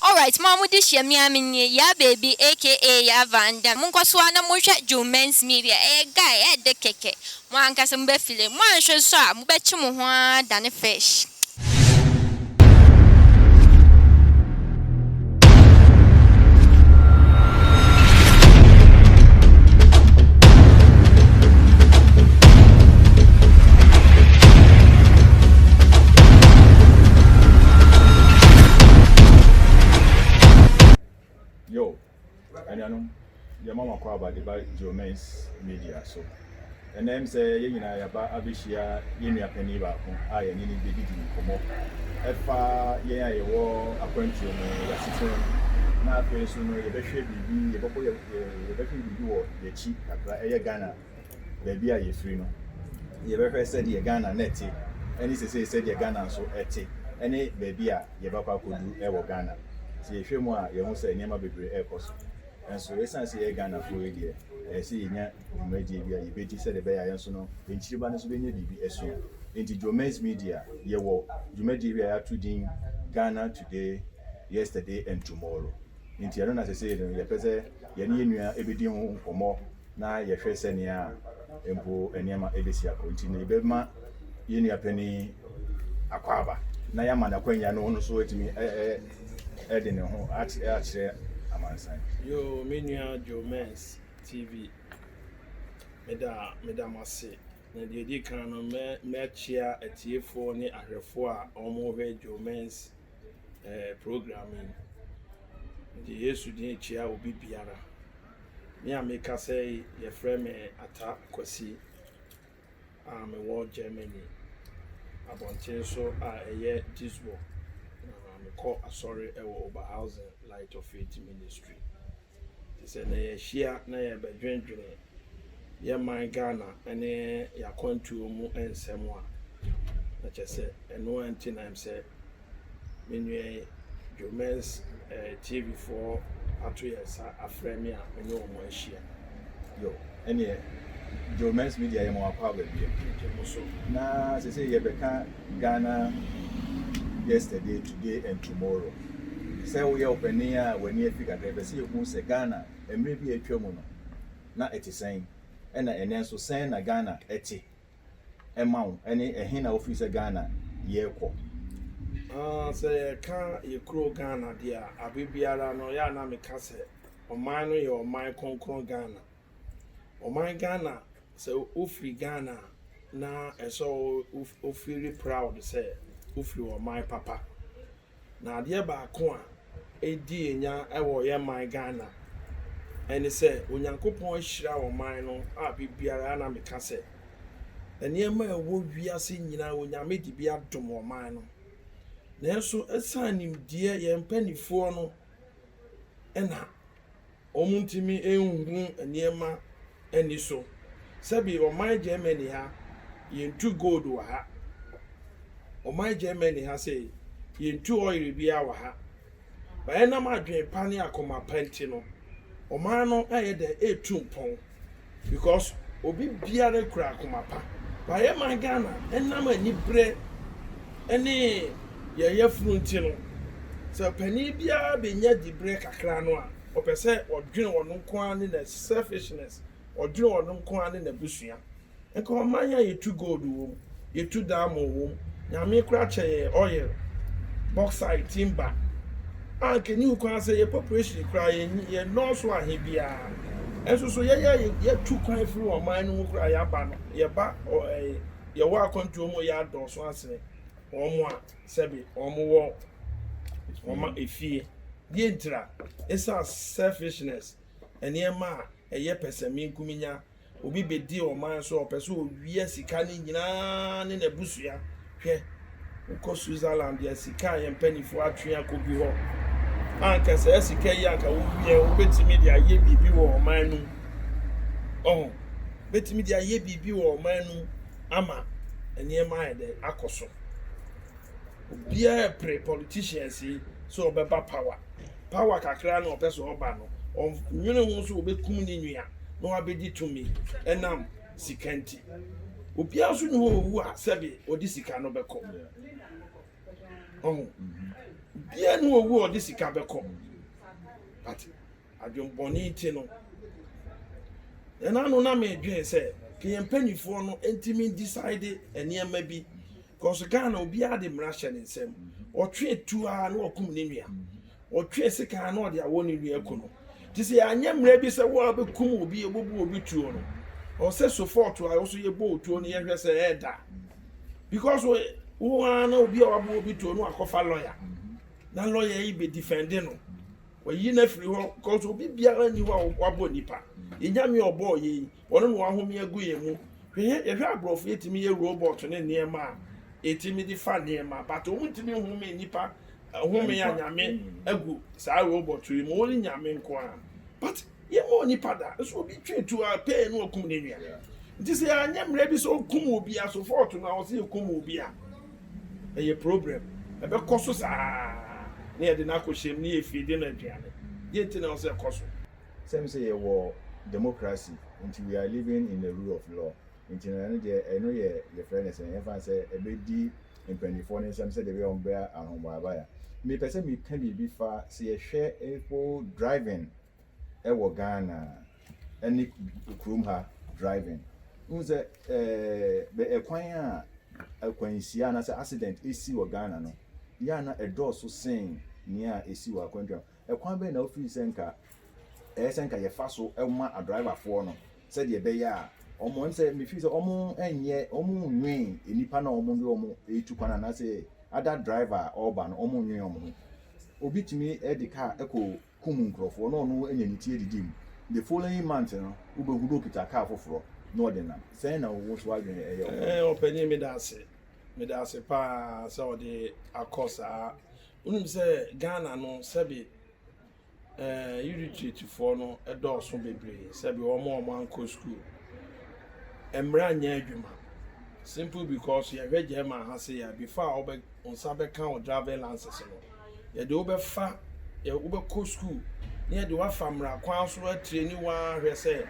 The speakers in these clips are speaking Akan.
Alright mo a mo de hyia me a me nie Yaa Baby aka Yaa Van Damme Mo nkɔ so ara na mo nhwɛ Joe Men's Media Ɛyɛ guy ɛɛdɛ kɛkɛ Mo ankasa mo bɛ file. Mo anhwɛ nso a mo bɛ kye mo ho ara dane fish. Anuanom, yɛma mo akwaaba de ba Geomens Media so. Ɛnnɛ, ɛwom sɛ yɛn nyinaa yɛaba abehyia yɛn nua panyin baako a yɛne no bedidi nkɔmmɔ ɛfa yɛn a yɛwɔ akwantuo mu, yɛn asetena mu, na afei nso no yɛbɛhwɛ biribi, yɛbɛbɔ yɛn, yɛbɛhwɛ biribi wɔ yɛn akyi kakra, ɛyɛ Ghana. baabi a yɛfiri no, yɛbɛhwɛ sɛdeɛ Ghana nnɛ te, ne sesei sɛdeɛ Ghana nso te, ne baabi a yɛbɛkɔ akɔduru wɔ Ghana. Sɛ yɛhwɛ mu a, yɛhu sɛ nneɛma bebree rekɔ so. Nanso ɛsiane sɛ yɛyɛ Ghanafoɔ yi deɛ, ɛyɛ sɛ yɛnya dwumadie bi a yɛbɛdi sɛdeɛ ɛbɛyɛ a yɛn nso no, yɛn kyiriba no nso bɛnya biribi asua. Enti Joemen's Media, yɛwɔ dwumadie bi a yɛato din Ghana Today, Yesterday and Tomorrow. Enti ɛno na sesei no yɛpɛ sɛ yɛne yɛn nua bɛdi ho nkɔmmɔ. na yɛhwɛ sɛnea mpo nneɛma ebesi akɔ nti no, yɛbɛma yɛn nua panyin akwaaba na yɛama no akwannya no ɔno so atumi ɛde ne ho akyerɛ amansan. Yoo, me nua Joe Mens TV, meda meda mo ase. Na deɛ ɛdi kan no, mɛkyia atiefoɔ ne ahwɛfoɔ a wɔrehwɛ Joe Mens eh, program yi. Mede Yesu din kyia obi biara. Me a merekasa yi, wɔfrɛ me Atta Kwasi a mewɔ Germany, abɔnten so a ɛyɛ Duisburg, na mekɔ asɔre wɔ Oberhausen Light of Faith Ministry. Te sɛ na yɛahyia na yɛrebɛdwendwene yɛn man Ghana ne yɛn akwantuo mu nsɛm a, na kyerɛ sɛ ɛno ara nti na ɛm sɛ me nua yi, Joemen's eh, TV foɔ ato yɛn nsa afrɛ me a me ne wɔn ahyia. Yo, ɛneɛ Joemen's Media yɛ ma wakɔ aba bie. Gye mo so. Na sese yɛbɛka Ghana yesterday, today and tomorrow. Sɛ woyɛ ɔpanin a w'ani afi kakra, ɛpɛ sɛ yɛhu sɛ Ghana mmerɛ bi a atwa mu no na ɛte sɛn, ɛna ɛnɛ nso sɛn na Ghana ɛte. ɛma wo ɛne ɛhe na wofiri sɛ Ghana yɛkɔ? Ah sɛ yɛka yɛ kuro Ghana deɛ a abe biara no yɛ a na meka sɛ ɔman no yɛ ɔman kronkron Ghana ɔman Ghana sɛ wofiri Ghana a na ɛsɛ wo feel proud sɛ wofiri ɔman papa Na adeɛ baako a ɛredi yɛn nya wɔ yɛn man Ghana ɛne sɛ Onyankopɔn ahyira ɔman no a biribiara a na meka sɛ nneɛma a ɛwɔ wiase nyinaa Onyame de bi adom ɔman no. Nanso ɛsan nimdeɛ yɛn mpanimfoɔ no ɛna wɔntumi nhu nneɛma ani so. Sɛbi ɔman Germany ha, yɛntu gold wɔ ha. Ɔman Germany ha sei, yɛntu oil biara wɔ ha. But ɛnam adwene pa ne akoma pa nti no, ɔman no ayɛ dɛn? Ɛretu mpɔn. Because obi biara kura akoma pa. But yɛ man Ghana ɛnam anibrɛ ɛne yɛn yafunu nti no sɛ panin biara bɛnya dibrɛ kakra no a ɔpɛ sɛ ɔdwene ɔno nko ara ne na selfishness ɔdwene ɔno nko ara ne n'abusua. Nka ɔman a yɛtu gold wɔ mu. yɛtu diamond wom. Nyame koraa kyɛ yɛn oil, bauxite, timber. A anka ɛnni ho kwan sɛ yɛn population koraa yɛn yɛnnɔɔso ahe biara. Nso so yɛyɛ yɛtu kwan firi ɔman no mu koraa yɛaba no, yɛba ɛɛ yɛwɔ akwantuo mu yɛ adɔɔso asene wɔn a sɛbe wɔn wɔ wɔn efie. Deɛ ntira? Ɛsan selfishness, nneɛma a ɛyɛ pɛsɛmenkominya, Obi bedi ɔman so a ɔpɛ sɛ owia sika no nyinaa ne n'abusua. Hwɛ, wokɔ Switzerland a, sika a yɛn mpanyimfo atwe akɔ bi hɔ a, anka saa sika yi anka wowia a, wobetumi de ayɛ biribi wɔ ɔman no mu. Ɔho, wobetumi de ayɛ biribi wɔ ɔman no mu ama nneɛma ayɛ dɛ akɔ so. Obiara repere politicians yi sɛ wɔbɛba power. power kakra na ɔpɛ sɛ ɔba no, ɔnnwene ho sɛ ɔbɛkum ne nua na wabɛdi tumi ɛnam sika nti. Obiara nso nni hɔ a ɔwu a sɛbe ɔde sika no bɛkɔ. Ɔho, obiara nni hɔ a ɔwu a ɔde sika bɛkɔ. But adwembɔne nti no, ɛna no na medwene sɛ ka yɛn mpanimfoɔ no ntumi decide nneɛma bi Cause Ghana obiara de mmara hyɛ ne nsam. Ɔtwe tu ara na ɔkum ne nua. Ɔtwe sekan ara na ɔde awɔ ne nua ku no. Te sɛ yɛanyɛ mmara bi sɛ wo a bɛkum obi ɔbɛbu obi tuo no. Ɔwɔ sɛ sofɔɔto a ɔso yɛbɔ otuo no yɛhwɛ sɛ ɛɛda. Because wo ara na obi a wabɔ obi tuo no akɔfa lɔya. Na lɔya yi bɛ difɛnde no. Wayi no afiri hɔ. Cause obi biara nni hɔ a wabɔ nipa. Yɛnyame ɔbɔɔ yɛ yi. Wɔn na wɔahome agu yɛn mu. Hwɛ yɛn, yɛhwɛ aborɔfo, yɛtumi yɛ robot ne nneɛma a yɛtumi de fa nneɛma, but wɔn ntumi nhome nnipa home a Nyame agu saa robot yi mu, only Nyame nko ara. But yɛmma onipa da, nso obi twe tu a pɛɛ na wakum ne nua. Nti sɛ yɛanyɛ mmara bi sɛ okum obi a so fault no a wɔsɛ yɛkum obi a, ɛyɛ problem. Ɛbɛkɔ so saa na yɛde no akɔ hyɛm na yɛfie de no aduane. Deɛ nti na ɛwɔ sɛ ɛkɔ so. Sɛ me sɛ yɛwɔ democracy nti we are living in a rule of law nti no ɛno deɛ ɛno yɛ yɛfrɛ no sɛn yɛmfa no sɛ ɛbɛdi mpaninfoɔ no nsam sɛdeɛ ɛbɛyɛ wɔn bɛyɛ ahobaebaya mepɛ sɛ meka biribi fa sɛ yɛhwɛ mpo driving ɛwɔ Ghana ɛne kurom ha driving wohu sɛ ɛɛ ɛkwan a akwanhyia anaasɛ accident ɛsi wɔ Ghana no yɛ a na ɛdɔɔso sen nea ɛsi wɔ akwantuam Ɛkwan bɛn na wofii sɛ anka ɛyɛ sɛ anka yɛfa so ma adriverfoɔ no sɛdeɛ ɛbɛyɛ a wɔn, ɛm sɛ mefii sɛ wɔn nyɛ, wɔn nnwen nnipa no a wɔn de wɔn retu kwan anaasɛ other driver a ɔreba no, wɔn nnwen wɔn ho. Obi tumi de car kɔ kum nkurɔfoɔ na ɔno anya ne ti adidi mu. The following month no, wobɛhu no ɔkita car foforɔ na ɔde nam. Sɛn na wo nso w'adwene yɛ wɔ ho? Ɔpanin, meda ase. Meda ase pa ara sɛ wɔde akɔ saa Wonim sɛ Ghana no sɛbe eh, illiteratefoɔ no dɔɔso bebree sɛbe wɔn a wɔn ankɔ school. Mmara nyɛ adwuma simple because yɛhwɛ German ha se ya before a wobɛ nsa bɛka wo driving license no yɛde wobɛfa wobɛkɔ school na yɛde wafa mmara kwan so atireni waa hwɛ sɛ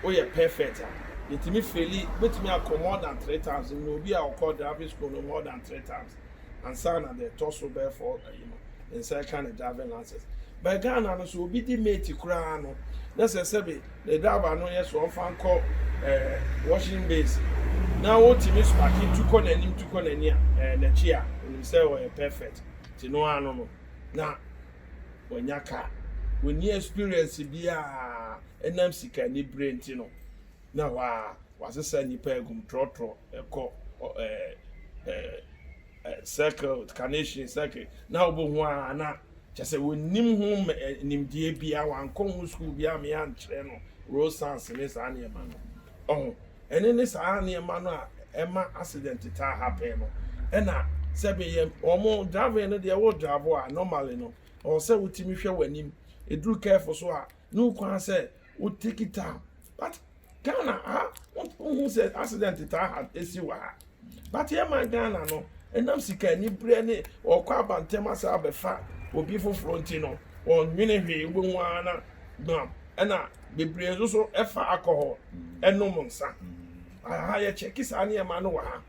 woyɛ perfect a yɛtumi feli wobɛtumi akɔ more than three times na obi a ɔkɔ driving school no more than three times ansa na deɛ ɛtɔ so bɛyɛ fɔ ayi no ne nsa ɛka ne driving license bɛɛ ghana no so obi di mate koraa no na sɛ sɛbi ne driver no yɛ so ɔmfa nkɔ ɛɛ eh, washing base na wotumi spaki tu kɔ n'anim tu kɔ n'ani a ɛɛ eh, n'akyi a onim sɛ ɔyɛ perfect ti no ano no na wɔnya kaa wɔni experience biara ɛnam sika ni bere nti no. na ɛhɔ ara wɔasesa nnipa agu mu trɔtrɔ kɔ ɔ ɛɛ ɛɛ ɛ circled carnation circuit na wobɛhu ara na kyɛ sɛ wɔnnim ho ɛ nimdeɛ biara wankɔ ho sukuu biara ma yɛankyerɛ no Rosans ne saa nneɛma no ɔho ɛne ne saa nneɛma no a ɛma accident taa happen no ɛna sɛbe yɛ wɔn driving no deɛ wo drive a normally no ɔwɔ sɛ wotumi hwɛ w'anim ɛduru curve so a No kwan sɛ wo take time but Ghana ha wohu sɛ accident taa ha esi wɔ ha but yɛ man Ghana no ɛnam sika ni brɛ ne ɔkɔ abantɛm asa abɛfa obi foforɔ nti no ɔnwene hwee wobɛhu ara na gbam ɛna bebree nso so ɛfa alcohol ɛnom nsa aha yɛ kyɛke saa nneɛma no wɔ ha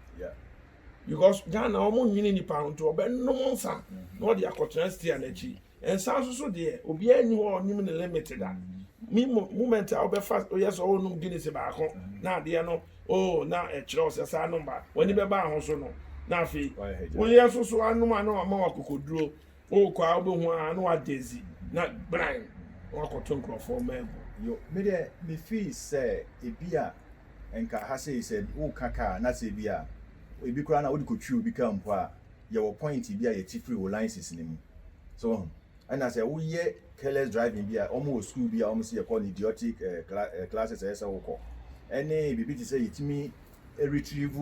because Ghana wɔn nwene nipa ho nti ɔbɛnom nsa na ɔde akɔtena stia n'akyi. Nsa so so deɛ obiara nni hɔ a ɔnim ne limit da. Me moment a wobɛfa woyɛ sɛ wonom Guinness baako na adeɛ no oh na ɛkyerɛ wo sɛ saa nom ba w'ani bɛba ho so no na afei woyɛ so so anom a na wama wakokoduro wokɔ a wobɛhu a na wada zi na bran wakɔto nkurɔfoɔ maagu. Yo, me deɛ me fii sɛ ebi a nka ha sei sɛ woka kaa na sɛ ebi a ebi koraa na wode kɔtwi obi kaa mpo a yɛwɔ point bi a yɛte firi wo license no mu. So woahu? Ɛna sɛ woyɛ careless driving bi a, wɔwɔ school bi a wɔsi yɛkɔ no idiotic eh, cla eh, classes a ɛyɛ sɛ wokɔ. Ɛne biribi te sɛ yɛtumi retrieve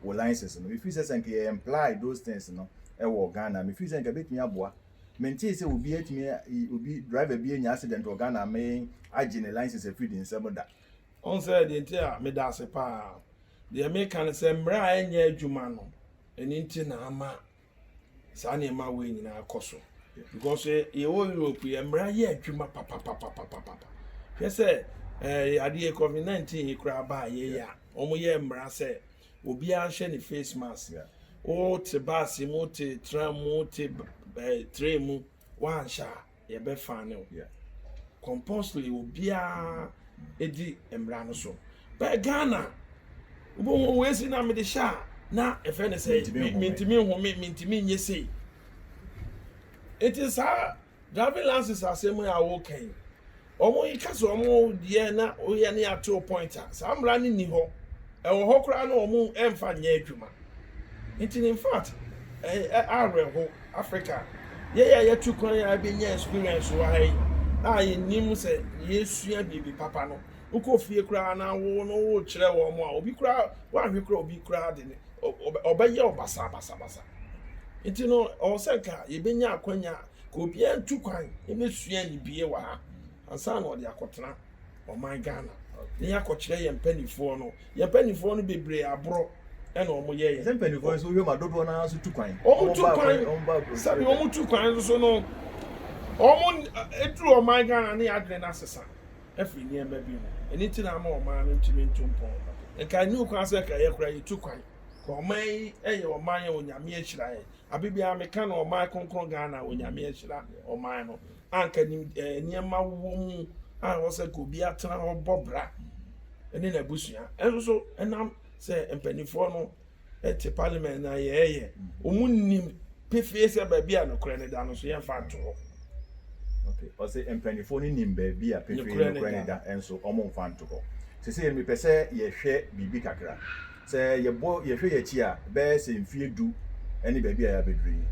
wo license no. Mefiri sɛ sɛ nka yɛ imply those things no wɔ Ghana, mefiri sɛ nka ɛbɛtumi aboa. Mentee sɛ obi atumi, obi driver bi anya accident wɔ Ghana ama yɛn agye ne license afiri ne nsam da. Ɔn sɛ deɛ nti a meda ase paa. Deɛ meka ne sɛ mmerɛ a ɛnyɛ adwuma no, Ɛno nti na ama saa nneɛma wei nyinaa akɔ so because eh, yɛwɔ europe yɛ mmara yɛ adwuma papapapapapa hwɛ sɛ eh, adeɛ covid 19 yi koraa baa yɛyɛ a wɔyɛ mmara sɛ obiara nhyɛ ne face mask wote baase mu wote tram mu wote eh, tray mu woanhyɛ a Yɛbɛfa ne ho yɛ compulsory wɔ biara edi mmara no so bɛɛ Ghana wobɛhu wɔn esi na mede hyɛ a na ɛfɛ ne sɛ mintimi nhome mintimi nye sei eti saa driving license asɛm a wɔka yi Wɔn yi ka sɛ wɔn deɛ na woyɛ ne atew point a saa mmara no nni hɔ. Ɛwɔ hɔ koraa na wɔn ɛmfa nyɛ adwuma. Nti no infact ɛyɛ awerɛhow Africa yɛn a yɛtu kwan a yɛbɛnya experience wɔ ha yi a yɛnnim sɛ yɛresua biribi papa no wokɔ fie koraa na wo no worekyerɛ wɔn a obi koraa woanhwɛ koraa obi koraa de ne ɔbɛyɛ wo basabasabasa. Nti no ɔwɔ sɛ nka yɛbɛnya akwanya a Nka obiara ntu kwan ne suani bie wɔ ha ansa na ɔde akɔtena ɔman Ghana na yɛakɔkyerɛ yɛn mpanimfoɔ no. Yɛn mpanimfoɔ no bebree aborɔ na wɔyɛ yɛn. Sɛ mpanimfoɔ no nso wohwɛ mu a dodoɔ no ara nso tu kwan. Wɔtu kwan sɛbi wɔn tu kwan nso no wɔn eduru ɔman Ghana ne adwene no asesa afiri nneɛma bi ho ɛno ti na ama ɔman no ntumi ntu mpɔn nka ɛni okwan sɛ nka yɛ koraa yɛtu kwan ka ɔman yi yɛ ɔman yɛ onyame ahyira yɛn. Aber biara mekã no ɔman krɔnkrɔn Ghana Onyame ahyira ɔman no a nka nim eh, nneɛma wɔ mu a ɔwɔ sɛ nka obi atena hɔ bɔ bra ne n'abusua ɛnso so ɛnam sɛ mpanimfoɔ no te parliament na yɛɛyɛ ɔmu nim pefee sɛ baabi a nokorɛ no da no so yɛmfa nto hɔ ɔse mpanimfoɔ no nim baabi a pefee nokorɛ no da ɛnso ɔmo mfa nto hɔ sesei mepɛ sɛ yɛhwɛ biribi kakra Sɛ yɛbɔ yɛhwɛ yɛn akyi a, ɛbɛyɛ sɛ mfeɛ du ne baabi a yɛabɛduru yi.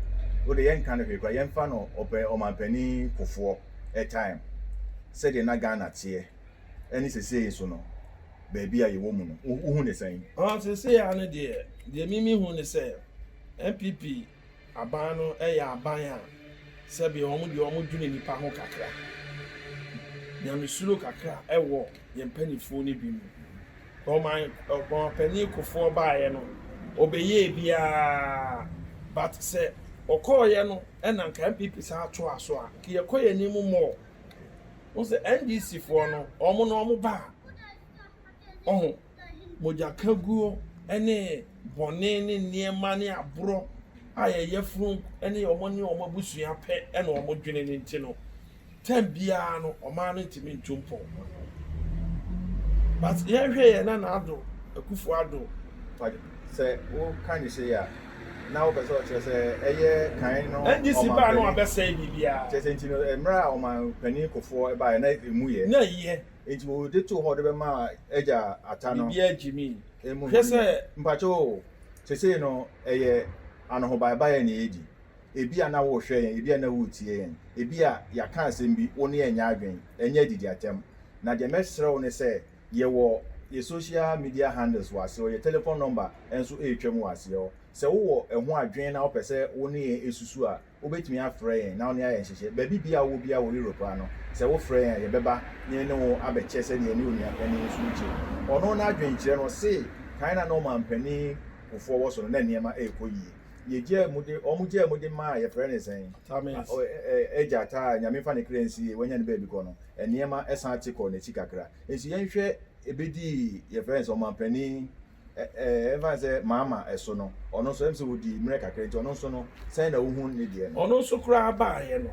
Wode yɛnka no hwee koraa, yɛmfa no ɔpɛ, Ɔmanpanin Kufoɔ time, sɛdeɛ na Ghana teɛ ɛne seesei nso no, baabi a yɛwɔ mu no, wo hu no sɛn? Ɔɔ, seesei ara no deɛ, deɛ me mehu ne sɛ, NPP Aban no yɛ aban a sɛbea wɔn deɛ wɔn dwene nnipa ho kakra. Nyamesuro kakra wɔ yɛn mpaninfoɔ no bi mu. Ɔman ɔmanpanin Kufoɔ baeɛ no ɔbɛyɛɛ biara but sɛ ɔkɔeɛ no na nka NPP san atoa so a nka yɛkɔ yɛn anim more. Wohu sɛ NDC foɔ no wɔn no wɔn ba a ɔho. mogyakaguo ne bɔne ne nneɛma ne aborɔ a yɛyɛforo ne wɔn ne wɔn abusua pɛ na wɔn dwene no nti no, tɛm biara no ɔmaa no ntumi ntu mpɔn. But yɛhwɛ yɛn na n'ado akufo ado. Sɛ woka ne sei a, na wopɛ sɛ ɔkyerɛ sɛ ɛyɛ kan no ɔmampanin. NDC baa no abɛsɛe biribiara. Kyerɛ sɛ nti no, mmerɛ a ɔmampanin kofoɔ baeɛ na ɛmu yɛ. Na ɛyɛ. Enti wɔde too hɔ de bɛma Agya Ata no. Biribiara gyimii. Emu Hwɛ sɛ. no. Mpakyɛ o, seesei no ɛyɛ anohobaebae a na yɛredi. Ebia na worehwɛ yɛn, ebia na woretie yɛn, ebia yɛaka asɛm bi, wo ne yɛn nyɛ adwene, ɛnyɛ adidi atɛm. Na deɛ mɛsrɛ wo ne sɛ, yɛwɔ yɛn social media handles wɔ aseɛ hɔ, yɛn telephone number nso retwam wɔ aseɛ hɔ. Sɛ wowɔ ɛho adwene na wopɛ sɛ wo ne yɛn susu a, Wobɛtumi afrɛ yɛn na wo ne ayɛ nhyehyɛe. Baabi biara a wowɔ biara wɔ Europe ha no, sɛ wofrɛ yɛn a, yɛbɛba na yɛne wo abɛkyɛ sɛdeɛ yɛne onuapanin nso regye. Ɔno n'adwene kyerɛ no, ɔse, Kan na na ɔmampanin Kufuor wɔ so no, na nneɛma rekɔ yie. Yɛgyaa mu de, wɔgyaa mu de maa, yɛfrɛ no sɛn? Tamis. Agya Taa, Nyame mfa ne kra nsie, wanya ne baabi kɔ no, nneɛma san te kɔɔ n'akyi kakra. Nso yɛnhwɛ, ɛbɛdii, yɛfrɛ no sɛn, ɔmampanin Ɛmfa sɛ mama ɛso no, ɔno nso, ɛm sɛ ɔdii mmerɛ kakra nti, ɔno nso no, sɛn na wohunu ne deɛ no? Ɔno nso koraa baeɛ no,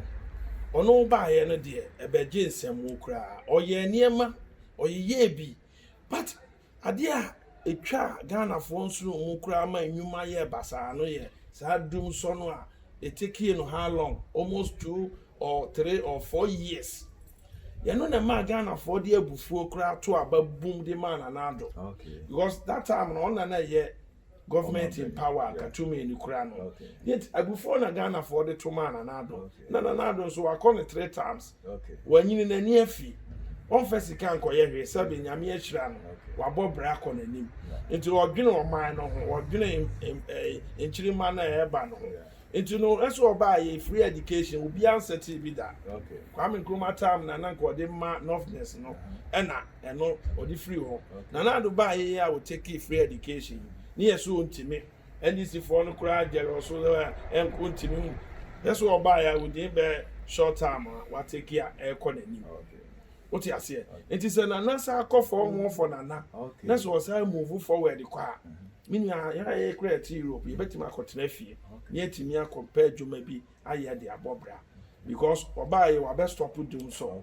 ɔno baeɛ no deɛ, ɛbɛgye nsɛmmo koraa. Ɔyɛɛ nneɛma, ɔyeyɛɛ bi, but adeɛ a ɛtwaa Ghanafoɔ nsono mu koraa ma nnwuma yɛɛ basaa no yɛ saa dum sɔ no a, it takeɛ no how long? Almost two. or three or four years yɛn no na ɛmaa ghanafoɔ de abufuo koraa to aba boom de maa nana ado because that time no ɔna na ɛyɛ government in power katumi ni koraa no yet abufuo na ghanafoɔ de to maa nana ado na nana ado nso wakɔ no three times wanyini n'ani afi ɔnfɛ sika nkɔyɛ hwee sɛbi nyame ahyira no wabɔ bra akɔ n'anim nti ɔdwene ɔman no ho ɔdwene eh, nkyirimma no a ɛreba no ho Nti no ɛso ɔbaa yɛ free education obia nsɛtee bi da Kwame Nkrumah time na na nka ɔde ma Northerners no ɛna ɛno ɔde firi hɔ Nana Addo baa yɛ yɛ a ɔtakee free education yi ne yɛ so ɔntimi NDC foɔ no koraa gyɛre ɔso sɛ ɛnko ntimi hu yɛ so ɔbaa yɛ a within bɛɛ short time a watakee a ɛkɔ nanim wote aseɛ nti sɛ Nana saa kɔ fɔɔ moɔ fɔ Nana na sɛ ɔsan move forward kɔ a Me nua, yɛn a yɛkura yɛte Europe, yɛbɛtumi akɔtena fie na yɛatumi akɔpɛ adwuma bi ayɛ de abɔ bra because ɔbaa yɛ wabɛ stop dum sɔ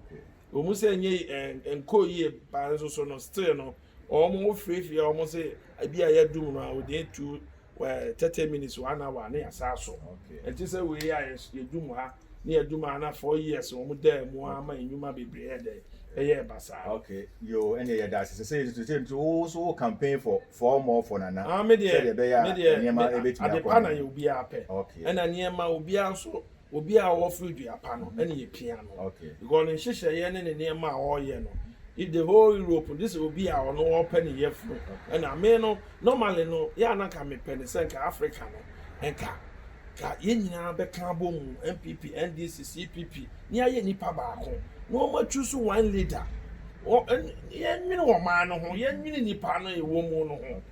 wɔn sɛ nye eh, nkɔ yie ba nso so no still no wɔn wofirefie a wɔn sɛ ebi a yɛ dum no a wɔde etu eh, thirty minutes one hour ne yasa so ɛti sɛ wei a yɛ dum ha ne yɛ dum a na four years wɔn da mu ama enyuma bebree yɛ dɛ ɛyɛ basaa. Okay, yo, ɛnna yɛda ase sɛ sɛ yɛtutu sɛ nti wo so wo campaign for Four more for Nana Ah me deɛ, sɛdeɛ ɛbɛyɛ a me deɛ, nneɛma me bɛtumi ade akɔ pa na anim. yɛ obiara pɛ. Okay. Ɛna nneɛma obiara nso, obiara a ɔfiri dua pa no ɛna yɛpia no. Okay. Because ne nhyehyɛeɛ ne ne nneɛma a ɔreyɛ no, if the whole Europe, this is obi a ɔno ɔpɛ ne yafunu. Okay. Ɛna me no, normally no, yɛ a na nka mepɛ ne sɛ nka Africa no, nka, nka yɛn nyinaa bɛka abɔ mu, NPP, NDC, CPP, ne ayɛ nipa baako na wɔn atwi so one leader wɔ yɛn nwene wɔn maa no ho yɛn nwene nipa no ɛwɔ mu no ho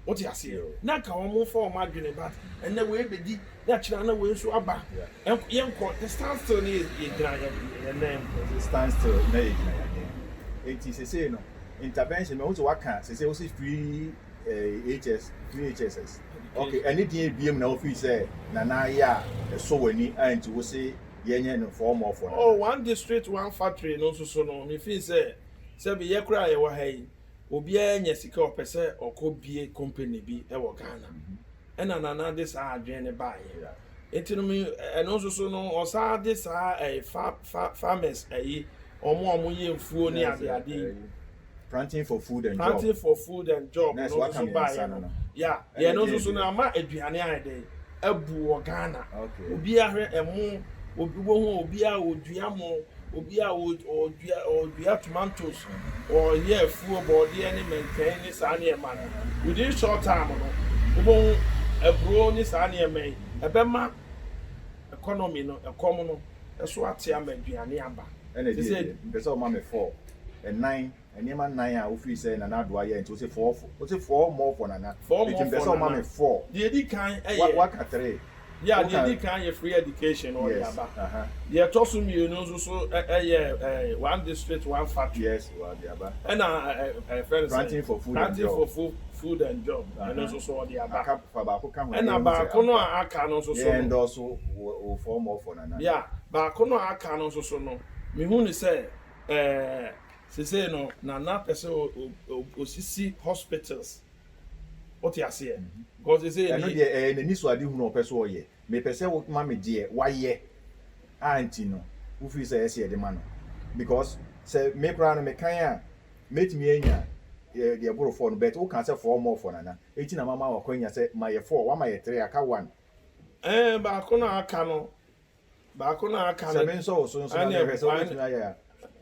wote aseɛ na nka wɔn mo fa wɔn adwene but ɛnɛ wei bɛdi na kyerɛ na wei nso aba yɛn kɔ the stand still ne yɛ gyina yɛn nan mu the stand still na yɛ gyina yɛn nan mu eti sese no intervention mɛ ho sɛ waka sese ho sɛ free eh, HS free HSS okay ɛne deɛ ebiem na wofi sɛ nana ayɛ a ɛsɔ w'ani a nti wo se yɛnyɛ no mfɔɔmɔɔfɔ no. Oh, one district, one factory no nso so no, mefii sɛ, sɛbe yɛ koraa a yɛwɔ ha yi, obiara nya sika a ɔpɛ sɛ ɔkɔ bie company bi wɔ Ghana. Ɛna Nana de saa adwene no baeɛ. Enti no, me, ɛno nso so no, ɔsan de saa ɛɛ, fa, fa, farmers ayi, wɔn a wɔyɛ mfuo ne adeadeɛ yi. Planting for food and job. Planting for food and job. Nurse, what can you say? Yeah, yeah. No, so so na ma eduane ayɛ dɛ. Abu wɔ Ghana. Okay. Obi ahwɛ ɛmo, obi wɔ ho, obi a odua mo, obi a odua odua tomatoes, ɔyɛ afuo, bɔɔdeɛ ne mɛntwɛn ne saa nneɛma no. Within short time no, wobɛhu aburo ne saa nneɛma yi. Ɛbɛma economy no ɛkɔm no so ate ama aduane aba. Ɛna ɛdeɛ deɛ mepɛ sɛ woma me fɔɔ ɛnan nneɛma nnan a wofiri sɛ Nana Addo ayɛ nti wose fɔɔ fɔ wose fɔɔ mɔɔ fɔ Nana enti mepɛ sɛ woma me fɔɔ deɛ ɛdi kan yɛ waka three yeah deɛ ɛdi kan yɛ free education ɔde aba deɛ ɛtɔ so mmienu nso so yɛ one district one factory yes Ɔde aba. Ɛna yɛfrɛ no sɛn? Planting for food and job. Ɛno nso so ɔde aba. Fa baako ka ho. Ɛna baako no a aka no nso so no. Yɛndɔɔso wo fɔɔ mɔɔ fɔɔ nana. Ya, baako no a aka no nso so no, mehu no sɛ seesei no nana pɛ sɛ ɔsisi hospitals. Wote aseɛ? Because seesei. Ɛno deɛ ɛyɛ n'anisoadehunu a ɔpɛ sɛ ɔyɛ. Mepɛ sɛ wo ma me deɛ wayɛ a nti no wo feel sɛ ɛsɛ yɛde ma no because sɛ me koraa no me kan a mɛtumi anya deɛ ɛboro four no but wo kaa sɛ four more four nana ɛti na mama wo akwanya sɛ ma yɛ four wama yɛ three aka one. Ɛɛ baako no a aka no baako no a aka no. Sɛ me nsɔ wo so nso na me hwɛ sɛ wo bɛtumi ayɛ a.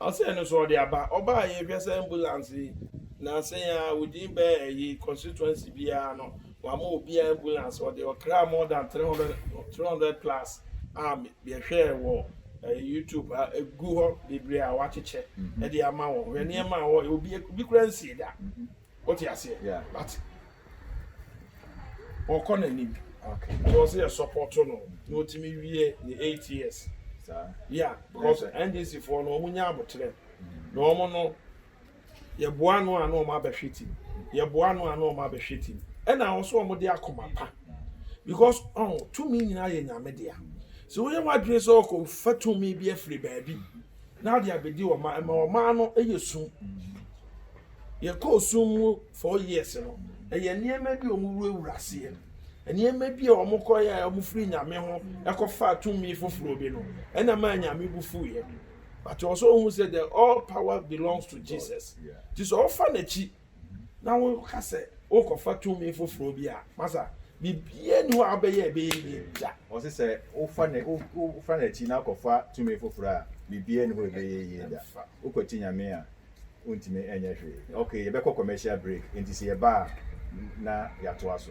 Ɔsɛɛ no so ɔde aba. Ɔbaa yɛn hwɛ sɛ ambulance yi na sɛn a within bɛɛ ɛyi constituency biara no wama obiara ambulance ɔde ɔkra more than 300 300 plus a yɛhwɛɛ wɔ ɛyi YouTube a egu hɔ bebree a wakyekyɛ ɛde ama wɔn hwɛ nneɛma a ɔyɛ obi obi kura nsie da. wote aseɛ yeah. but ɔkɔ n'anim okay. because yɛ support no na ɔtumi wie ne eight years yeah because ndc foɔ no wɔn nya abotrɛ mm. na wɔn no yɛboa no a na wɔn abɛhwɛ tim yɛboa no a na wɔn abɛhwɛ tim ɛna wɔn so wɔn de akoma pa because ɔn oh, tumi nyinaa yɛ nyame dea sɛ woyɛ wadwene sɛ ɔkɔ fa tumi bi afiri baabi. Mm -hmm. Na ade abedi wɔn ma ɛma wɔn ano yɛ sum. Yɛkɔɔ sum mu four years no, ɛyɛ nneɛma bi a wɔwurawura aseɛ. Nneɛma bi a wɔkɔyɛ a wɔfiri Nyame ho kɔfaa tumi foforɔ bi no, ɛna maa Nyame bo fuiɛ. But ɛwɔ sɛ wɔhu sɛ the all power belongs to Jesus. Nti sɛ wɔfa n'akyi na woka sɛ wokɔfa tumi foforɔ bi a, masa, biribiara nni hɔ a wobɛyɛ a ɛbɛyɛ yie da. Ɔse sɛ wofa ne, wofa n'akyi na wokɔfa tumi foforɔ a, biribiara nni hɔ a ɛbɛyɛ yie da. Wokwati Nyame a, wontumi nyɛ hwee. Okay, yɛbɛkɔ commercial break, enti sɛ yɛba a na yɛatoa so.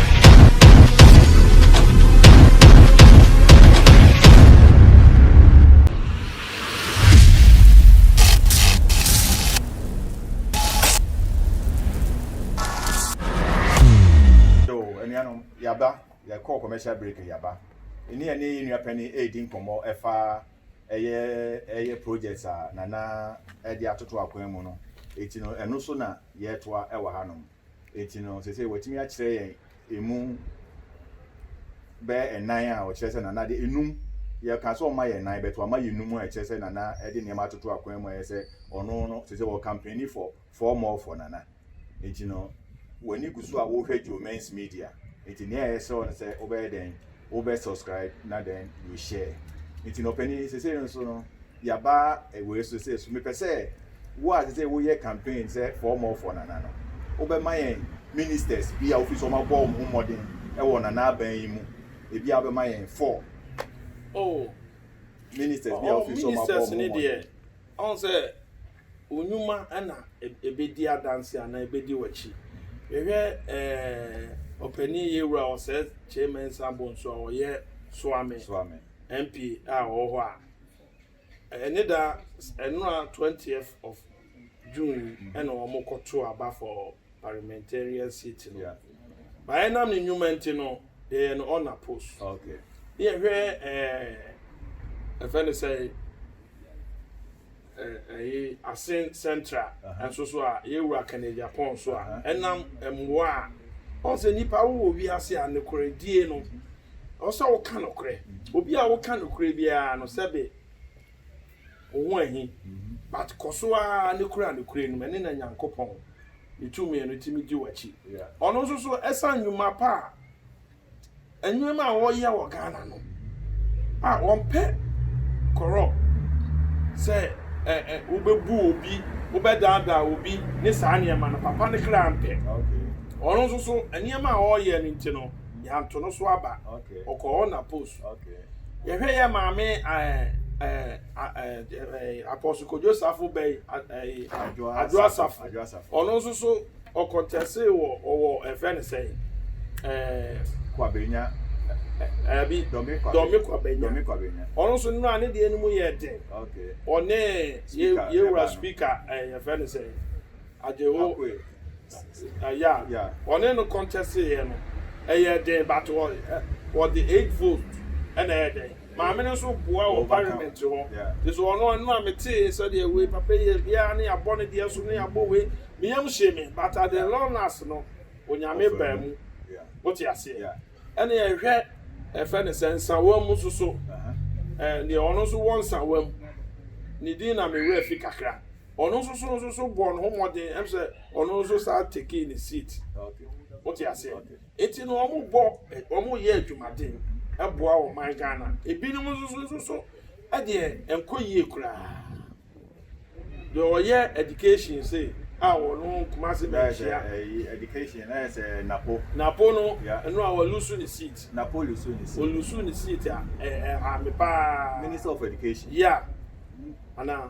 commercial break yaba ɛne ɛne yɛ nua panyin ɛredi nkɔmmɔ ɛfa ɛyɛ ɛyɛ project a nana ɛde atoto akwan mu no eti no ɛno so na yɛretoa ɛwɔ hanom. Enti no, seesei watumi akyerɛ yɛn emu bɛyɛ nnan a ɔkyerɛ sɛ Nana de enum. Yɛkaa sɛ ɔmma yɛn nnan, but wama yɛn enum a ɛkyerɛ sɛ Nana de nneɛma atoto akwan mu a ɛyɛ sɛ ɔno no, seesei ɔkampeni for four more for Nana. Enti no, w'ani gu so a worehwɛ Joe Men's Media. Enti nea ɛsɛ wo ne sɛ wobɛyɛ dɛn wo bɛ subscribe na then you share nti no ɔpɛni sese no so no yaba ɛwɔ so sɛ so mepɛ sɛ wo a sese woyɛ campaign sɛ four more for nana no wo bɛ ma yɛn ministers bi a wofi so ɔma bɔ wɔn ho mmɔden ɛwɔ nana aban yi mu ebi a wobɛma yɛn four oh ministers bi a wofi so ɔma bɔ wɔn ho mmɔden Ɔhu sɛ wo nnwuma na ɛbɛdi adanse anaa ɛbɛdi w'akyi. Yɛhwɛ ɛɛ ɔpanin Yawura Osei Kyei Mensah Bonsu a ɔyɛ Suame MP a ɔwɔ hɔ a, ɛne da ɛnora 20th of June yi ɛna wɔkɔto aba for parliamentarian seat no. Baeɛ nam ne nnwuma nti no. yɛyɛ no on a post okay ne yɛhwɛ ɛɛ ɛfɛ ne sɛ ɛyɛ asen central nso so a yɛwura kane japan so a ɛnam mmoa a ɔn sɛ nipa wowɔ wiase a nokorɛ die no ɔsɛ woka nokorɛ obi a woka nokorɛ biara no sɛbe wo ho ahi but kɔ so ara ne kura nokorɛ no mu ɛne na Nyankopɔn ne tumi no tumi gye w'akyi ɔno nso so ɛsan nnwuma pa a nnwuma a wɔyɛ wɔ Ghana no a wɔmpɛ corrupt sɛ ɛ ɛ wobɛbu obi wobɛdaadaa obi ne saa nneɛma no papa ne kra mpɛ ɔno nso so nneɛma a wɔyɛ no nti no yɛanto no so aba ɔkɔɔ na post Yɛhwɛ yɛ maame Apostle Kojo Safo bɛyi Adwoa Safo. Ɔno nso so ɔkɔntɛse wɔ ɔwɔ ɛfɛ ne sɛ Kwabenya. Ɛbi Dɔmi Kwabenya. Dɔmi Kwabenya. Ɔno nso nnura ne deɛ no mu yɛ den. Ɔne yɛwura speaker yɛfɛ ne sɛ. Adehoe, yeah, wɔne no kɔntɛsteeɛ no, ɛyɛɛ den but wɔde eight vote na ɛyɛɛ dɛn, maame no nso boa wɔ parliament hɔ, nti so ɔno ɛno a metee sɛdeɛ wei papa yi yɛ biara ne yɛabɔ ne deɛ so ne yɛabɔ wei, me yam hyee me but at the long last no Onyame baa mu, wote aseɛ, ɛne yɛhwɛ ɛfɛ ne sɛ Nsawa mu nso so, deɛ ɔno nso wɔ Nsawa mu, ne din na me werɛ fi kakra. Ɔno nso so nso so bɔɔ ne ho mmɔden ɛm sɛ ɔno nso saa tekee ne seat. Wote aseɛ? Eti no wɔn bɔ wɔn yɛ adwumaden ɛboa ɔman Ghana. Ebinom nso so nso so ɛdeɛ ɛnkɔ yie koraa. Deɛ ɔyɛ education se a ɔno Kumasi bɛ nkyia. Education na yɛ sɛ napo. Napo no ɛno a ɔlusu ne seat. Napo lusu ne seat. Olusu ne seat a ɛɛ ɛha me paa. Minister of education. Yeah.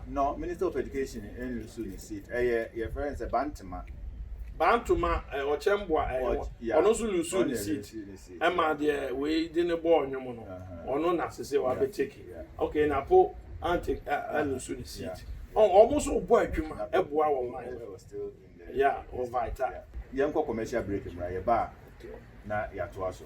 No minister of education nlusu ne seat ɛyɛ yɛfrɛ no sɛ bantema. Bantoma eh, ɔkyɛmboa eh, Ɔky- wɔ- yeah. ɔno nso lusu Ɔno ne na seat ɛlusu ne seat, ɛma yeah. deɛ wei de ne bɔɔl nwom no Uh-huh. ɔno na sese Yeah, wabɛteki yeah. okay na po ante alusu ne seat Ɔ- ɔmo nso bɔ adwuma ɛboa wɔ man Ɛwɔ still Yɛnkɔ commercial break mmra, yɛba a na yɛatoa so.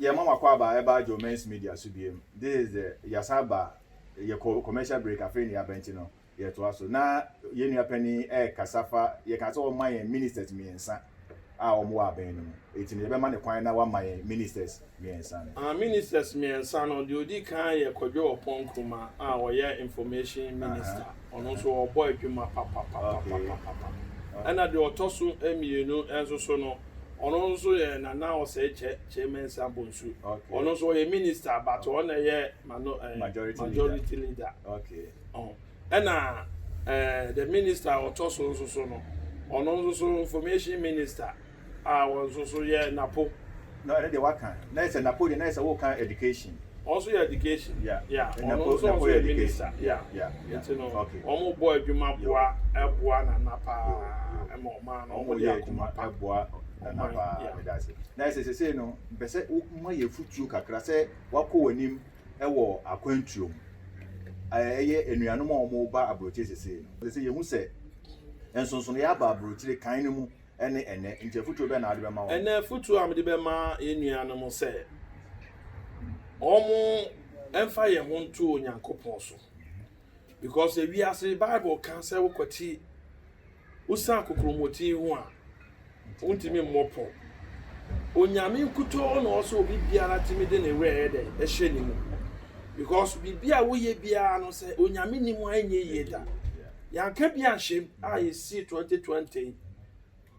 Yɛn mama kwaaba ɛbaa Joe Men's Media so biem this is the yɛasan aba yɛkɔ commercial break afei na yɛaba nti no yɛtoa so na yɛn nua panin ɛrekasa fa yɛka sɛ wɔma yɛn ministers mmiɛnsa a wɔn wɔ abɛn no mu eti no yɛbɛma ne kwan na wama yɛn ministers mmiɛnsa no. Ah ministers mmiɛnsa no deɛ odi kan yɛ Kwadwo Ɔpɔn Nkrumah a ɔyɛ information minister. Ɔno nso ɔbɔ adwuma papapapapapa. Ɛna deɛ ɔtɔ so mmienu nso so no, ɔno nso yɛ Nana Osei Kyɛ, Kyei Mensah Bonsu. Ɔno nso ɔyɛ minister but ɔno na ɛyɛ majority leader. Ɛna the minister a ɔtɔ so nso so no, ɔno nso so information minister. a wɔn nso so yɛ napo. No ɛno deɛ waka na yɛ sɛ napo deɛ na yɛ sɛ wo ka education. Wɔn nso yɛ education yeah wɔn nso wɔn nso yɛ minister yeah nti no wɔn bɔ adwuma boa ɛboa nana paa ɛma ɔman no wɔn de akoma pa ɛboa nana paa meda ase na yɛ sɛ sese no mpɛ sɛ wo ma yɛ futuo kakra sɛ wakɔ wɔn anim ɛwɔ akwantuo mu ɛyɛ anuanom a wɔn ba aburokyire sese no sese yɛ hu sɛ nsonsonoeɛ aba aburokyire kan no mu. ne ɛnnɛ. Enti afotuo bɛn na wode bɛma wɔn? Ɛnnɛ afotuo a mede bɛma yɛn nuanom sɛ wɔmfa yɛn ho nto Onyankopɔn so. Because ewiase Bible ka sɛ wokwati wosan kokromoti ho a wontumi mmɔ pɔ. Onyame nkutoo na ɔsɛ obi biara tumi de ne werɛ yɛ dɛ ɛhyɛ ne mu. Because biribi a woyɛ biara no sɛ Onyame nim a ɛnyɛ yie da. Yɛanka bi anhyɛ mu a yɛsii twenty twenty yi,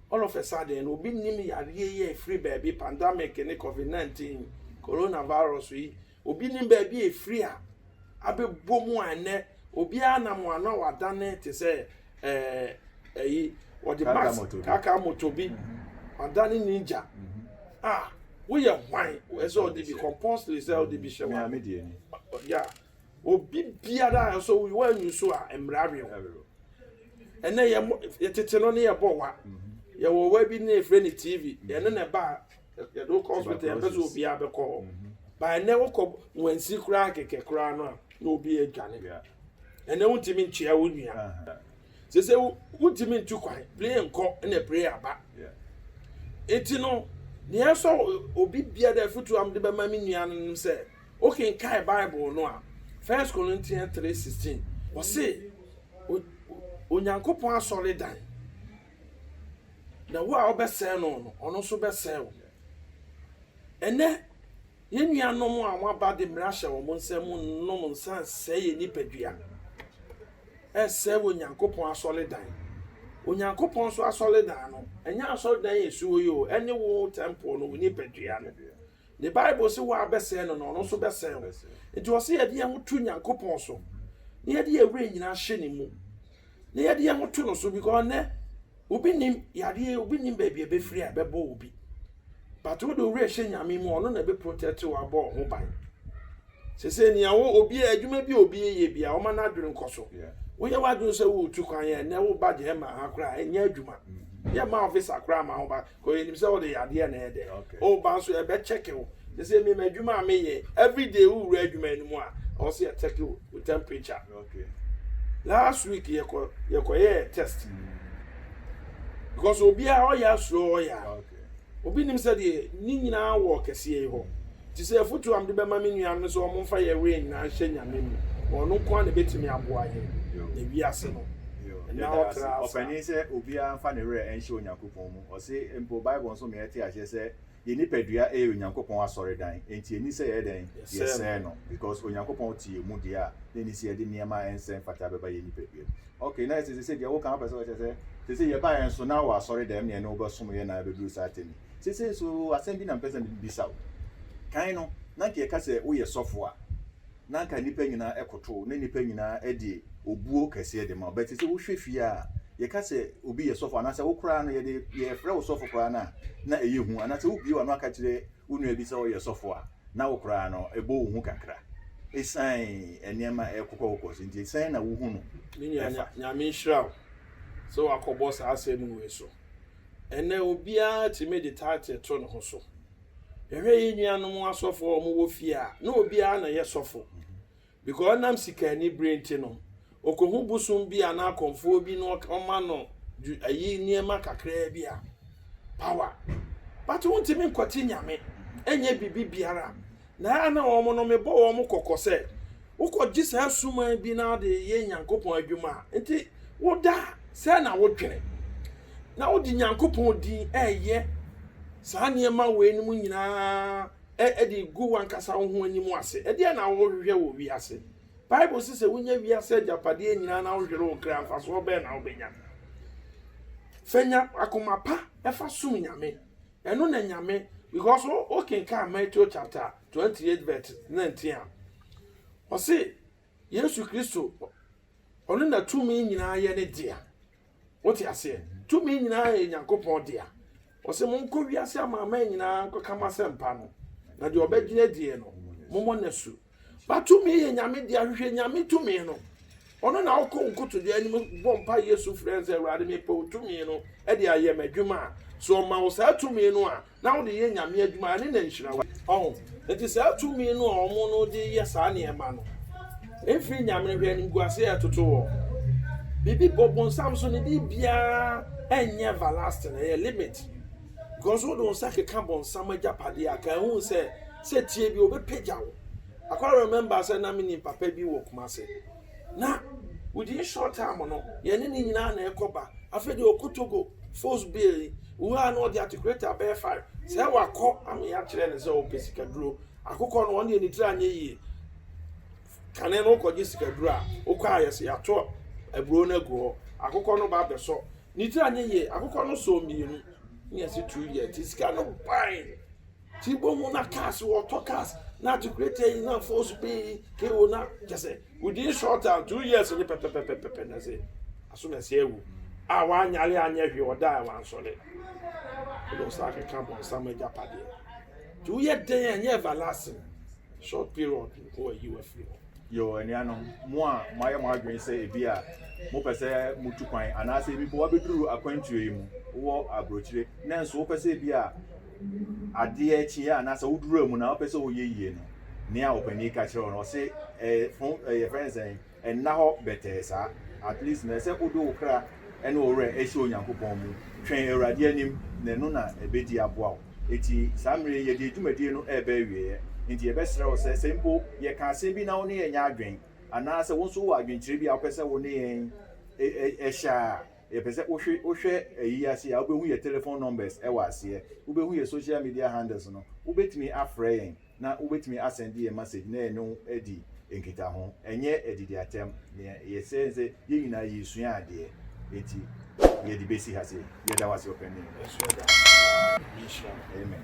all of a sudden no obi nnim yareɛ yi a ɛfiri baabi, pandemic ne covid nineteen, corona virus yi, obi nnim baabi a ɛfiri a abɛbɔ mu a ɛnnɛ obiara nam ano a wadane te sɛ ɛɛ ɛyi wɔde Kaka mask moto bi. kaka moto bi wadane ninja a woyɛ hwan ɛsɛ sɛ ɔde bi compulsory sɛ ɔde bi hyɛ Mea wɔn me deɛ ni. ya Obi biara a nso wɔanyi so a mmara awe wo. Ɛnɛ yɛ tete no ne yɛbɔ wa. Mm-hmm. Yɛwɔ wa bi ne yɛfrɛ ne TV. Mm-hmm. Yɛne ne ba yɛde wokɔ hospital yɛpɛ sɛ obiara bɛkɔ hɔ. Mm-hmm. Ba ɛnɛ wokɔ wansi koraa kɛkɛ koraa no a na obi adwane. Ɛnɛ wontumi nkyea wo nua. Uh-huh. Sɛ sɛ wontumi ntu kwan, plane nkɔ na plane aba. Enti no, nea ɛsɔ obi biara afotu a mede bɛma me nua no sɛ Wokenkan Bible no a, 1 Corinthians 3:16, ɔse Onyankopɔn asɔredan, na wo a wobɛsɛe no no, ɔno nso bɛsɛe wo. Ɛnɛ, yɛn nuanom a wɔaba de mmara hyɛ wɔn nsam nom nsa sɛe yɛn nipadua, ɛsɛe wɔ Onyankopɔn asɔredan. Onyankopɔn nso asɔredan no, ɛnyɛ asɔredan a ɛsi hɔ yi o, ɛne wo tɛmpol no, wo nipadua no. Ne Bible se woabɛsɛe no na ɔno nso bɛsɛe wo. Nti ɔse yɛde yɛn ho to Nyankopɔn so na yɛde yɛn werɛ nyinaa hyɛ ne mu na yɛde yɛn ho to no so because nɛ obi nim yadeɛ obi nim baabi a ɛbɛfiri a ɛbɛbɔ obi but wode wo werɛ hyɛ Nyame mu ɔno na ɛbɛ protect wo abɔ wo ho ban sese nea wo obi adwuma bi obi yɛ bi a wɔma no adwene nkɔ so woyɛ w'adwene sɛ woretu kwan yɛ ɛnɛ wo ba gyɛ ma ha koraa ɛnyɛ adwuma mm-hmm. yɛ ma officer koraa ma wo ba Because yɛnim sɛ wode yadeɛ na ɛyɛ dɛ. Woba nso yɛbɛkyɛke wo. Te sɛ me m'adwuma a meyɛ everyday wowura adwuma no mu a ɛwɔ sɛ yɛkyɛke wo wo temperature. Last week yɛkɔ yɛkɔyɛɛ test. Because obiara ɔyɛ asuro ɔyɛ a. Obi nim sɛ deɛ ne nyinaa wɔ kɛseɛ yi hɔ. Te sɛ afotuo a mede bɛma me nuanom no sɛ wɔn mfa yɛ wei nyinaa nhyɛ nyame mu. Na ɔno nko ara na ɛbɛtumi aboa yɛn. Na wiase no. Ɛna ɔtra asa. Ɔpanin sɛ obiara mfa ne werɛ nhyɛ Onyankopɔn. wɔn mu. Ɔse mpo Bible nso ma yɛte aseɛ sɛ yɛn nipadua yɛ Onyankopɔn asɔredan, enti enni sɛ yɛyɛ dɛn? Yɛsɛe no, because Onyankopɔn te yɛn mu deɛ a, na enni sɛ yɛde nneɛma a ɛnsɛ mfata bɛba yɛn nipadua mu. Ok, na ɛsɛ sese deɛ woka no wopɛ sɛ wokyerɛ sɛ sese yɛbaeɛ nso na wɔ asɔredan mu na yɛne wo bɛsom yɛ na abɛduru saa tɛm yi. Sese nso asɛm bi na mepɛ sɛ mebisa wo. Kan no, na nka yɛka sɛ woyɛ sɔfo a, na anka nnipa nyinaa koto wo, na nnipa nyinaa de obuo kɛseɛ de ma wo. But sɛ wohwɛ fie a, yɛka sɛ obi yɛ sɔfo anaasɛ wo koraa no yɛde yɛfrɛ wo sɔfo koraa no a, na ɛyɛ hu. Anaasɛ wobue w'ano aka kyerɛ wo nua bi sɛ ɔyɛ sɔfo a, na wo koraa no ɛbɔ wo hu kakra. Esiane nneɛma a ɛrekokɔkokɔ so nti, sɛn na wohu no Me nua, fa? Nyame nhyira wo sɛ woakɔbɔ saa asɛm wei so. Ɛnnɛ obiara tumi de title to ne ho so. Yɛhwɛ yɛn nuanom asɔfo a wɔwɔ fie a, na obiara na ɛyɛ sɔfo. Because ɔnam sikaanibere nti no, okohu bosom bi anaa akɔmfoɔ bi na ɔma no ayi nneɛma kakraa bi a, power. But wontumi nkɔte nyame, ɛnyɛ biribi biara. Na ɛyɛ a na wɔn no mebɔ wɔn kɔkɔ sɛ, wokɔgye saa suman bi na wode yɛ Nyankopɔn adwuma a, nti woda a, sɛn na wodwene? Na wode Nyankopɔn din reyɛ saa nneɛma weinom nyinaa de regu w'ankasa wo ho anim ase. Ɛdeɛn na wohwehwɛ wɔ wiase? Bible se sɛ wonya wiase agyapadeɛ nyinaa na wohwere wo kra, mfasoɔ bɛn na wobɛnya? Fa nya akoma pa fa som Nyame. Ɛno na Nyame because wo wo kenkan Matthew chapter twenty eight verse nineteen a ɔse Yesu Kristo ɔno na tumi nyinaa yɛ ne dea wote aseɛ tumi nyinaa yɛ Nyankopɔn dea ɔse monkɔ wiase ama aman nyinaa nkɔka mo asɛmpa no na deɛ ɔbɛgyina deɛ no mommɔ no asu But tumi yɛ nyame dea hwehwɛ nyame tumi no ɔno na ɔkɔ nkotodwe anim bɔ mpa yɛ su frɛ sɛ awurade mepɛ wo tumi no ɛde ayɛ m'adwuma a so ɔma wo saa tumi no a na wode yɛ nyame adwuma ɛne na nhyira wo ɔho nti saa tumi no a ɔmo no de yɛ saa nneɛma no mfiri nyame no hwɛ animguase a ɛtoto wɔ biribi bɔ bonsam so ne biribiara ɛnyɛ everlasting ɛyɛ limit because wode wo nsa keka bonsam agyapadeɛ a ka ehu sɛ Sɛ tie bi obi pagya wo. Akwa remember sɛ na menim papa bi wɔ Kumase. Na within short time no yɛne ne nyinaa na ɛkɔ ba. Afei deɛ ɔkɔ Togo force bill yi wura a na ɔde articulator bɛyɛ five sɛ wakɔ ama yɛakyerɛ no sɛ ɔpɛ sikaduro. Akokɔ no ɔno deɛ ne tiri anyɛ yie. Kane no wokɔgye sikaduro a wokɔ a yɛsɛ yɛato aburo no agu hɔ. Akokɔ no ba bɛsɔ. Ne tiri anyɛ yie. Akokɔ no sɔɔ mmienu na yɛse two years nti sika no bae. Ti bɔ mu na cars wɔ tɔ cars na ti kure tɛ yi na fo so pii ke wo na kyɛ sɛ within short time two years ne pɛpɛpɛpɛpɛ na sɛ aso na sɛ awu a wanyare anyɛ hwee ɔda a wansɔre wode wo sa akeka bɔnsam agyapadeɛ nti woyɛ dɛn a ɛnyɛ everlasting short period nko ayi wo afiri hɔ. Yo, anuanom, mo a moayɛ mo adwene sɛ ebia mopɛ sɛ mutu kwan anaasɛ ebi mpo woabeduru akwantuo yi mu, wowɔ aburokyire, nanso wopɛ sɛ ebia adeɛ kye a anaasɛ woduru amu no a wopɛ sɛ woyɛ yie no, nea ɔpanin yi ka kyerɛ wo no, ɔse, eh, fo, eh, yɛfrɛ no sɛn? Nna hɔ bɛtɛɛ saa. At least na ɛsɛ wode wo kra ne wo werɛ hyɛ Onyankopɔn mu. Twɛn Awurade anim, na ɛno na ɛbɛdi aboa wo. Enti saa mmerɛ yi yɛde dwumadie no reba awieɛ, enti yɛbɛsrɛ wo sɛ, sɛ mpo yɛka asɛm bi na wo ne yɛn nyɛ adwen, anaa sɛ wo nso wowɔ adwenkyerɛ bi a wopɛ sɛ wo ne yɛn hyɛ a, yɛpɛ sɛ wohwɛ ayi yi ase a, wobɛhu yɛn telephone numbers wɔ aseɛ, wobɛhu yɛn social media handles no, wobɛtumi afrɛ yɛn. na wobetumi asɛnde yɛn masɛgye na yɛne wo adi nkitaho. Ɛnyɛ adidi atɛm. Nea yɛsrɛ ne sɛ yɛn nyinaa yɛresua adeɛ, enti yɛde besi ha sei. Yɛda wo ase ɔpanyin. Ɛso ɛda hɔ paa. Nhyira wo. Amen.